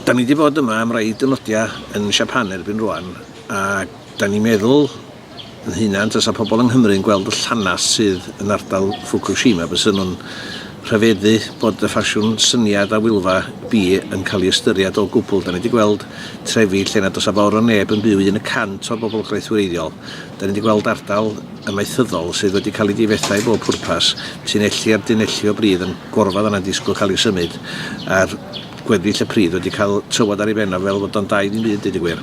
Da ni wedi bod yma am rai dynodiau yn Siapan erbyn rwan a da ni'n meddwl yn hunan tasa pobl yng Nghymru yn gweld y llanas sydd yn ardal Fukushima bys nhw'n rhyfeddu bod y ffasiwn syniad a wylfa bi yn cael ei ystyried o gwbl. Da ni wedi gweld trefi lle nad oes a fawr o neb yn byw un y cant o'r bobl graith wreiddiol. Da ni wedi gweld ardal amaethyddol sydd wedi cael ei difetha i bob pwrpas, tunelli ar dunelli o bridd yn gorfadd yna'n disgwyl cael eu symud, a'r gweddill y pridd wedi cael tywod ar ei ben o fel fod o'n dai ddim byd, deud y gwir.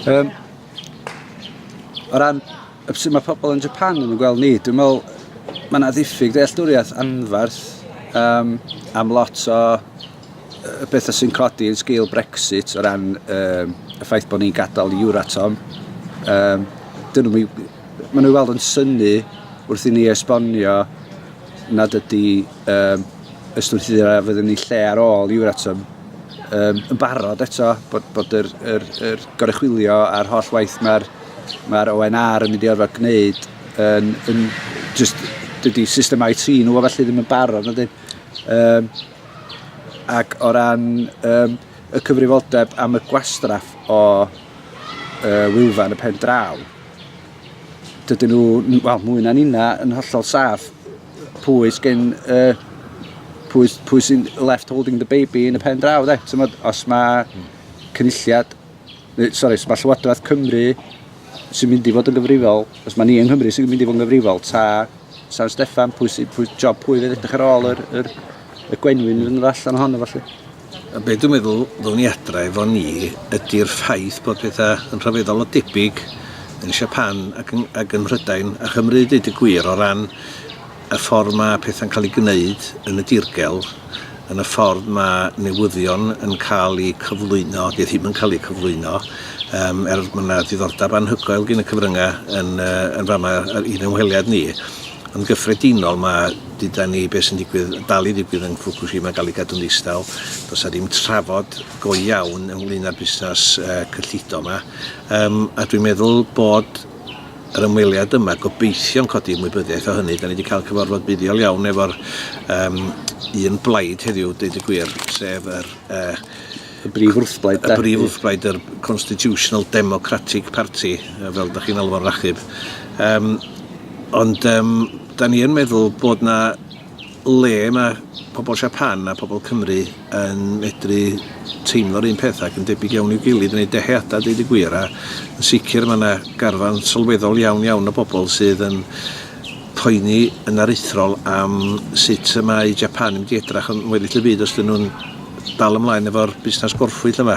Um, o ran sut mae pobl yn Japan yn gweld ni, dwi'n meddwl mae yna ddiffyg dealltwriaeth anferth um, am lot o y pethau sy'n codi yn sgil Brexit o ran um, y ffaith bod ni'n gadael i Euratom. Um, dyn nhw, maen nhw weld yn syni wrth i ni esbonio nad ydy um, ystwythyd a fydd yn ei lle ar ôl Euratom um, yn barod eto bod, bod yr, yr, yr gorechwilio a'r holl waith mae'r mae ONR yn mynd i orfod gwneud yn, yn just dydy system IT nhw felly ddim yn barod. Um, ac o ran um, y cyfrifoldeb am y gwastraff o uh, wylfa yn y pen draw, dydyn nhw, wel, mwy na'n unna, yn hollol saff pwy sgyn, uh, pwy, pwy sy'n left holding the baby yn y pen draw, de. Tymod, os mae cynulliad neu sori, os mae Llywodraeth Cymru sy'n mynd i fod yn gyfrifol, os mae ni yng Nghymru sy'n mynd i fod yn gyfrifol, ta San Steffan, pwy, sy, pwy job pwy fydd edrych ar ôl yr, yr, y gwenwyn yn yr allan ohono falle. A beth dwi'n meddwl ddwn i adra efo ni ydy'r ffaith bod pethau yn rhyfeddol o debyg yn Siapan ac yn, ac yn Mhrydain a Chymru, dweud y gwir, o ran y ffordd mae pethau'n cael eu gwneud yn y dirgel, yn y ffordd mae newyddion yn cael eu cyflwyno, neu ddim yn cael eu cyflwyno, um, er mae yna diddordeb anhygoel gen y cyfryngau yn, uh, yn fama i'n ymweliad ni. Yn gyffredinol mae dyda ni beth sy'n digwydd, dal i ddigwydd yn Fukushima gael ei gadw'n ddistaw. Does a ddim trafod go iawn ynglyn â'r busnes uh, cyllido yma. Um, a dwi'n meddwl bod yr ymweliad yma, gobeithio'n codi ymwybyddiaeth o hynny. Da ni wedi cael cyfarfod buddiol iawn efo'r um, un blaid heddiw, dweud y gwir, sef yr... Uh, y brif wrthblaid. Y brif wrthblaid, yr Constitutional Democratic Party, fel da chi'n alw fo'n rachub. Um, ond um, da ni yn meddwl bod na le mae pobl Siapan a pobl Cymru yn medru teimlo'r un peth ac yn debyg iawn i'w gilydd yn eu dyheadau, deud y gwir, a yn sicr mae yna garfan sylweddol iawn iawn o bobl sydd yn poeni yn aruthrol am sut y mae Japan yn mynd i edrach yn weddill y byd os dyn nhw'n dal ymlaen efo'r busnes gorffwys yma.